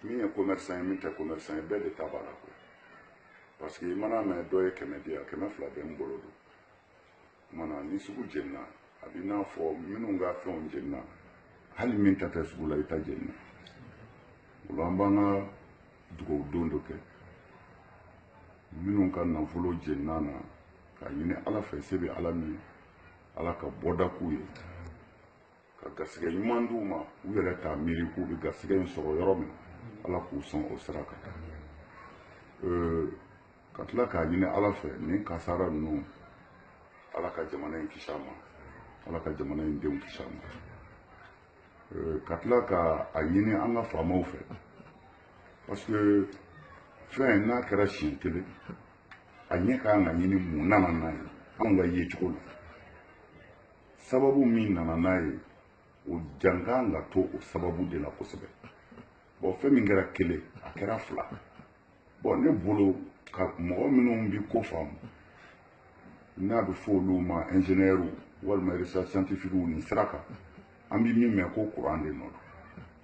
min ye commerçant ye min tɛ commerçant ye bɛɛ de ta b'a la koyi parce que i mana mɛn dɔ ye kɛmɛ di yan kɛmɛ fila bɛ n bolo don tuma na ni sugu jenina a b'i n'a fɔ minnu ka fɛnw jenina hali min ta tɛ sugu la i ta jenina o la an b'an ka dugawu don dɔ kɛ minnu ka nafolo jenina na k'a ɲini ala fɛ se bɛ ala min ala ka bɔda k'u ye ka garisɛgɛ ɲuman d'u ma u yɛrɛ t'a miiri k'u bɛ garisɛgɛ in sɔrɔ yɔrɔ min ala k'u sɔn o sira kan ka tila k'a ɲini ala fɛ nin kasara ninnu ala ka jamana in kisi a ma ala ka jamana in denw kisi a ma ka tila ka a ɲini an ka faamaw fɛ parce que fɛn n'a kɛra siɲɛ kelen a ɲɛ ka kan ka ɲini mun nana n'a ye anw ka yecogo la sababu min nana n'a ye o jan ka kan ka to o sababu de la kosɛbɛ bon fɛn min kɛra kelen a kɛra fila bon ne bolo ka mɔgɔ minnu bi ko faamu n'a bɛ fɔ olu ma ingénieurs walima recherche scientifique nin sira kan an bɛ min mɛn ko courant de nɔ don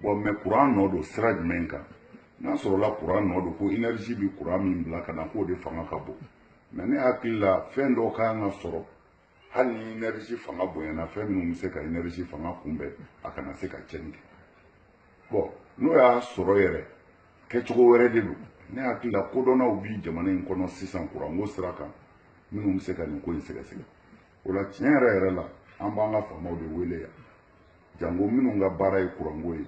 bon mais courant nɔ don sira jumɛn kan n'a sɔrɔla courant nɔ don ko énergie bɛ courant min bila ka na k'o de fanga ka bon mais ne hakili la fɛn dɔ ka kan ka sɔrɔ hali ni énergie fanga bonyana fɛn minnu bɛ se ka énergie fanga kunbɛn a kana se ka cɛnni kɛ bon n'o y'a sɔrɔ yɛrɛ kɛcogo wɛrɛ de don ne hakili la kodɔnnaw bi jamana in kɔnɔ sisan kuranko sira kan minnu bɛ se ka nin ko in sɛgɛsɛgɛ o la tiɲɛ yɛrɛ yɛrɛ la an b'an ka faamaw de wele yan janko minnu ka baara ye kuranko ye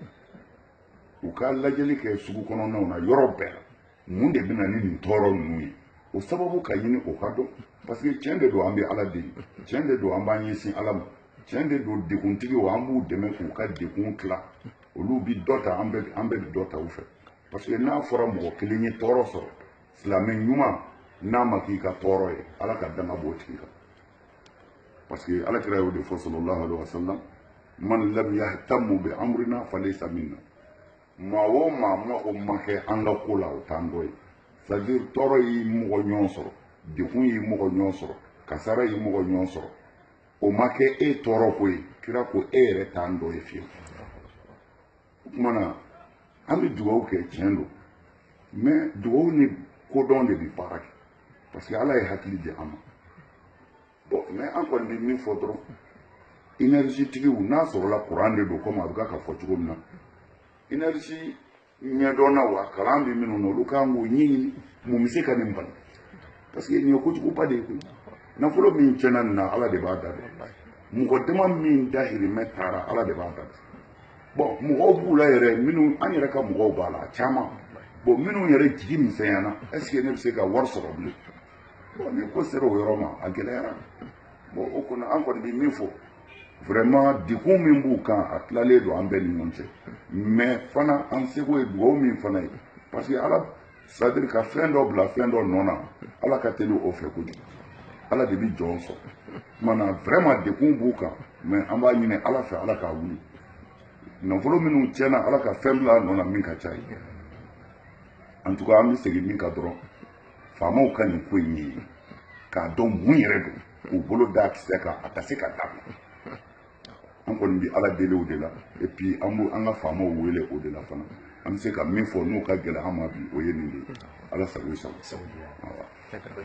u ka lajɛli kɛ sugu kɔnɔnaw na yɔrɔ bɛɛ la mun de bɛ na ni nin tɔɔrɔ ninnu ye o sababu ka ɲini o ka dɔn parce que tiɲɛ de don an bɛ ala deli tiɲɛ de don an b'an ɲɛsin ala ma tiɲɛ de don deguntigiw an b'u dɛmɛ k'u ka degun tila olu bi dɔ ta an bɛɛ an bɛɛ bi dɔ ta u fɛ parce que n'a fɔra mɔgɔ kelen ye tɔɔrɔ sɔrɔ silamɛ ɲuman n'a ma k'i ka tɔɔrɔ ye ala ka danga b'o tigi kan parce que ala kira y'o de fɔ sallallahu alaihi wa sallam man lam yahtamu bi amrina falaysa minna maa o maa ma o ma kɛ an ka ko la o t'an dɔ ye c'est à dire tɔɔrɔ y'i mɔgɔ ɲɔgɔn sɔrɔ dekun y'i mɔgɔ ɲɔgɔn sɔrɔ kasara y'i mɔgɔ ɲɔgɔn sɔrɔ o ma kɛ e tɔɔrɔ ko ye kira ko e yɛrɛ t'an dɔ ye fiyewu o tuma na an bɛ dugawu kɛ tiɲɛ don mais dugawu ni kodɔn de bɛ baara kɛ parce que ala ye hakili di an ma bon mais an kɔni bɛ min fɔ dɔrɔn énergie tigiw n'a sɔrɔla kuran de don kɔmi a bɛ ka fɔ cogo min na énergie ɲɛdɔnnaw a kalan bɛ minnu na olu kan k'o ɲɛɲini mun bɛ se ka nin bali parce que nin ye kojuguba de ye koyi nafolo min tiɲɛna nin na ala de b'a da dɔn mɔgɔ dama min dahirimɛ taara ala de b'a da dɔn bon mɔgɔw b'u la yɛrɛ minnu an yɛrɛ ka mɔgɔw b'a la a caman bon minnu yɛrɛ jigi misɛnyana est-ce que ne bɛ se ka wari sɔrɔ bilen bon ni ko sera o yɔrɔ ma a gɛlɛyara bon o kɔnɔ an kɔni bɛ min fɔ vraiment degun min b'u kan a tilalen don an bɛɛ ni ɲɔgɔn cɛ mais fana an seko ye dugawu min fana ye parce que ala c'est-à-dire ka fɛn dɔ bila fɛn dɔ nɔ na ala ka teli o fɛ kojugu ala de bɛ jɔn sɔrɔ kumana vraiment degun b'u kan mais an b'a ɲini ala fɛ ala k'a wuli nafolo minnu tiɲɛna ala ka fɛn bila a nɔ na min ka c'a ye en tout cas an bɛ segin min kan dɔrɔn faamaw ka nin ko in ye k'a dɔn mun yɛrɛ don k'u bolo d'a kisɛ kan a ka se ka dabila an kɔni bɛ ala deli o de la et puis an b'u an ka faamaw wele o de la fana an bɛ se ka min fɔ n'o ka gɛlɛn an ma bi o ye nin de ye ala sago i sago o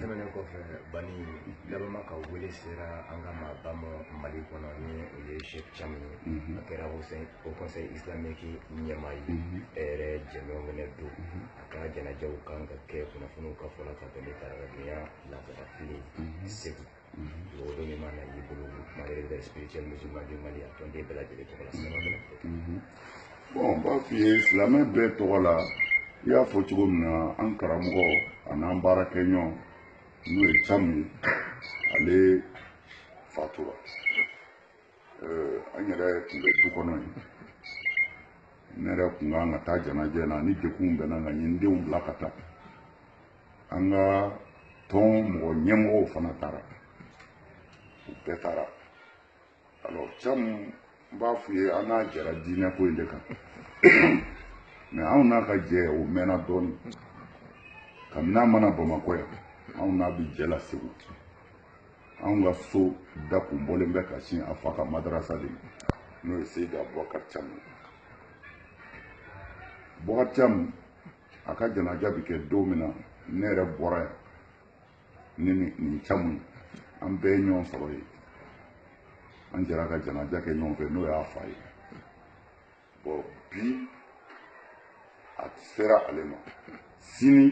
tɛmɛnen kɔfɛ ban ni laban ma ka wele sera an ka maaba ma mali kɔnɔ ni o ye sheikh thiam ye a kɛra haut conseil islamique ɲɛmaa ye e yɛrɛ jɛɲɔgɔn fɛnɛ don a ka janaja kan ka kɛ kunnafoniw ka fɔ la ka tɛmɛ taarabaya laada kelen segu mɔgɔ bɛ min mana y'i bolo groupement des leaders spirituels musulmans du mali a tɔnden bɛɛ lajɛlen tɔgɔ la sɛnɛ bɛna fɔ bon n b'a f'i ye silamɛ bɛɛ tɔgɔ la i y'a fɔ cogo min na an karamɔgɔ an'an baarakɛɲɔgɔn n'o ye thiam ye ale fatura an yɛrɛ tun bɛ du kɔnɔ yen ne yɛrɛ tun kan ka taa janajɛ na ni degun bɛ n na nka n ye n denw bila ka taa an ka tɔn mɔgɔ ɲɛmɔgɔw fana taara u bɛɛ taara alors thiam n b'a f'u ye an n'a jɛra diinɛ ko in de kan mais anw n'a ka jɛ o mɛnna dɔɔnin kabini an ma na bamakɔ yan anw n'a bɛ jɛ la segu anw ka so da kun bɔlen bɛ ka sin a fa ka madarasa de ma n'o ye seyidi abubakar thiam ye bubakar thiam a ka janaja bɛ kɛ don min na ne yɛrɛ bɔra yan ni nin nin thiam ye an bɛɛ ye ɲɔgɔn sɔrɔ yen an jɛra ka janaja kɛ ɲɔgɔn fɛ n'o y'a fa ye bon bi a sera ale ma sini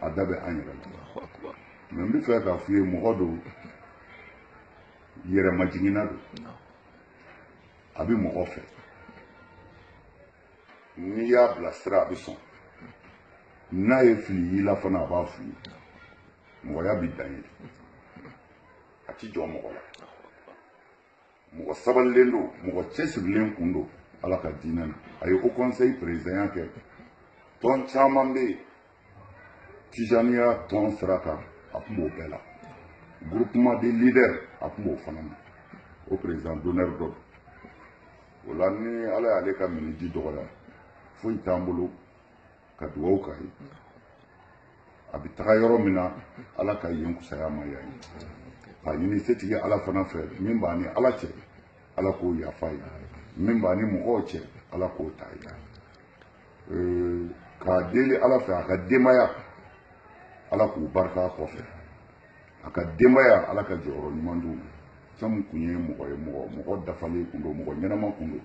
a da bɛ an yɛrɛ la mais n bɛ fɛ k'a f'i ye mɔgɔ don yɛrɛmajiginna don a bɛ mɔgɔ fɛ n'i y'a bilasira a bɛ sɔn n'a ye fili y'i la fana a b'a f'i ye mɔgɔya bɛ dan ye a ti jɔ mɔgɔ la mɔgɔ sabalilen don mɔgɔ cɛsirilen kun don ala ka diinɛ na a ye Haut Conseil perezidanya kɛ tɔn caman bɛ yen tijaniya tɔn sira kan a tun b'o bɛɛ la groupement des leaders a tun b'o fana na o président d'honneur don o la ni ala y'ale ka miniji dɔgɔya foyi t'an bolo ka dugaw k'a ye a bɛ taga yɔrɔ min na ala ka yen fusaya ma yan ye k'a ɲini setigi ala fana fɛ min b'a ni ala cɛ ala k'o yafa ye min b'a ni mɔgɔw cɛ ala k'o ta ye k'a deli ala fɛ a ka denbaya ala k'u barika kɔfɛ a ka denbaya ala ka jɔyɔrɔ ɲuman d'u ma sabu kun ye mɔgɔ ye mɔgɔ dafalen kun don mɔgɔ ɲɛnama kun don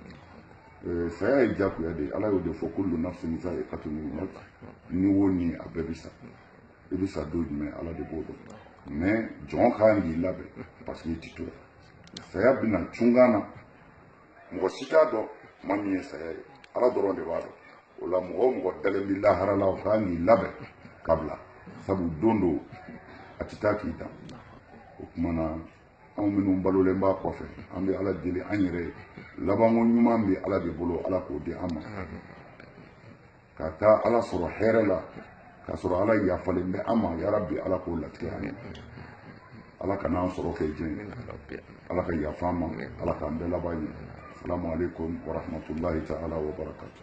eh, saya ye jagoya de ye ala y'o de fɔ kullu nafsin za'iqatul maut ni wo ni a bɛɛ bi sa i bi sa don jumɛn ala de b'o dɔn mais jɔn kan k'i labɛn parce que i ti to saya bi na cunkan na mɔgɔ si t'a dɔn tuma min ye saya ye ala dɔrɔn de b'a dɔn o la mɔgɔ o mɔgɔ dalen bɛ lahara la o kan k'i labɛn ka bila sabu don dɔ a tɛ taa k'i dan o tuma na anw minnu balolen b'a kɔfɛ an bɛ ala deli an yɛrɛ ye labanko ɲuman bɛ ala de bolo ala k'o di an ma ka taa ala sɔrɔ hɛrɛ la k'a sɔrɔ ala yafalen bɛ an ma yarabi ala k'o latigɛ an ye ala kan'an sɔrɔ kɛ jɛn ala ka yafa an ma ala k'an bɛɛ laban ɲɛ salamu aleykum warahmatulahi taala wabarakatu